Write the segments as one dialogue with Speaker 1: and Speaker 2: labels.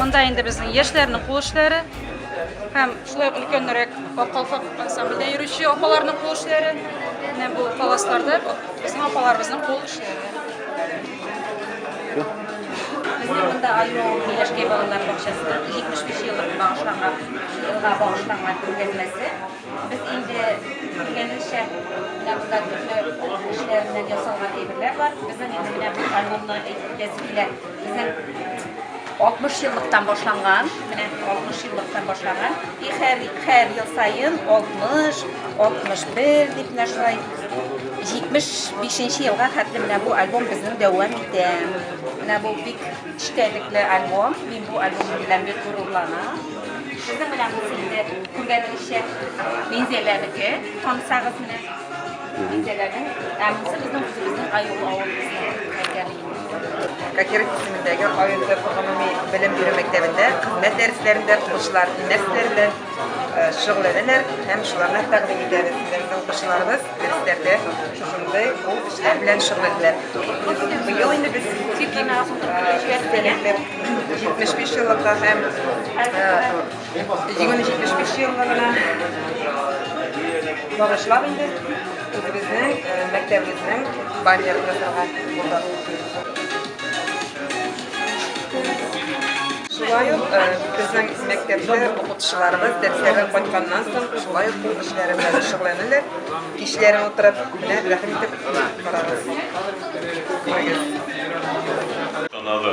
Speaker 1: Монда инде безнең яшьләрнең кул эшләре һәм шулай ук өлкәнрәк калфак ансамбльдә йөрүче апаларның кул эшләре. Менә бу паласларда безнең апаларыбызның кул эшләре. Безнең монда Альмоу Миләшкәй балалар бакчасында 75 еллык багышланган елга багышланган күргәзмәсе. Без инде белгәнебезчә менә монда төрле эшләрдән ясалган әйберләр бар. Безнең инде менә бу альбомны әйтеп килә. Безнең 60 еллыктан башланган, менә 60 еллыктан башланган. И һәр, һәр ел саен 60, 61 дип менә шулай 75 елга хәтле менә бу альбом безнең дәвам итә. Менә бу бик эчтәлекле альбом. Мин бу альбом белән бик горурланам. Сезнең белән бу инде күргәнегезчә Минзәләнеке, танысагыз менә. Минзәләнең, ә монысы безнең үзебезнең Аюл авылыбызның Кокеров исемендәге районда гомуми белем бирү мәктәбендә хезмәт дәресләрендә укучылар нәрсәләр белән э, шөгыльләнәләр һәм шуларны тәкъдим итәбез. Безнең укучыларыбыз дәресләрдә шушындый ул эшләр белән шөгыльләнә. Быел инде без тик 75 еллыкка һәм э, Җиңүне 75 еллыгы белән багышлап инде үзебезнең э, мәктәбебезнең баннерын ясарга булдык. Шулай ук э, безнең мәктәптә укытучыларыбыз дәресләрдән кайтканнан соң шулай ук кул эшләре белән шөгыльләнәләр. Кичләрен утырып, менә рәхим итеп карагыз. Күрегез. Танады.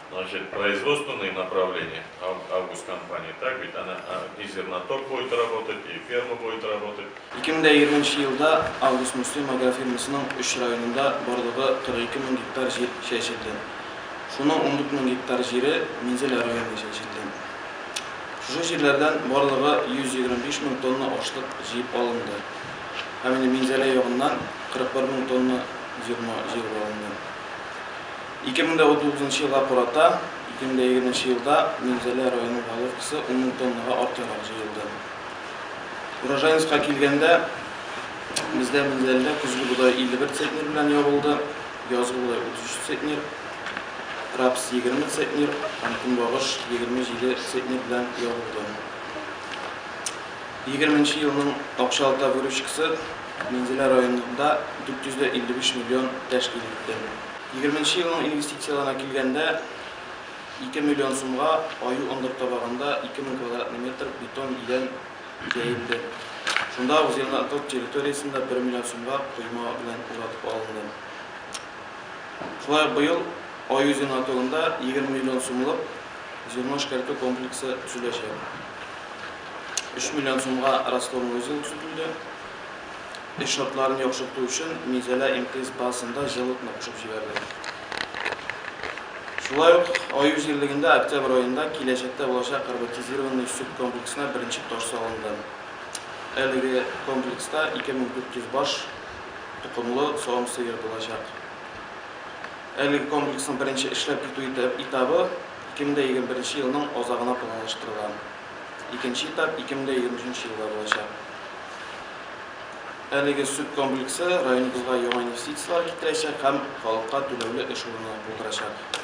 Speaker 1: Значит, производственные направления, Август компания, так ведь? Она и зерноток будет работать, и ферма будет работать. Ике мең дә егерме нче елда Август Муслим агрофирмасының өч районында барлыгы 42 мең гектар җир чәчелде. Шуның 14 мең гектар җире Минзәлә районында чәчелде. Шушы җирләрдән барлыгы 125 мең тонна ашлык җыеп алынды. Һәм инде Минзәлә ягыннан 41 мең тонна зерно җыелып алынды. Ике мең дә унтугызынчы елга карата ике мең дә егерменче елда Минзәлә районы головкасы ун мең тоннага артыграк җыелды. Урожайностька килгәндә, бездә Минзәләдә көзге бодай 51 центнер белән ябылды, язгы бодай 33 центнер, рапс 20 центнер һәм көнбагыш 27 центнер белән ябылды. Егерменче елның акчалата выручкасы Минзәлә районында 455 миллион тәшкил итте. Егерменче елның инвестицияләренә килгәндә, ике миллион сумга Аю ындыр табагында ике мең квадратный метр бетон идән җәелде. Шунда ук зеленокрот территориясен дә бер миллион сумга койма белән уратып алынды. Шулай ук быел Аю зеленокротында егерме миллион сумлык зерно эшкәртү комплексы төзеләчәк. Өч миллион сумга раствор-ный узел сүтелде. Эш шартларын яхшырту өчен Минзәлә МТС базасында җылытма кушып җибәрдек. Шулай ук Аю җирлегендә Октябрь аенда киләчәктә булачак роботизированный сөт комплексына беренче таш салынды. Әлеге комплекста 2400 баш токымлы савым сыер булачак. Әлеге комплексның беренче эшләп китү этабы 2021 елның азагына планлаштырыла. Икенче этап 2023 елда булачак. Әлеге сөт комплексы районыбызга яңа инвестицияләр китерәчәк һәм халыкка түләүле эш урыны булдырачак.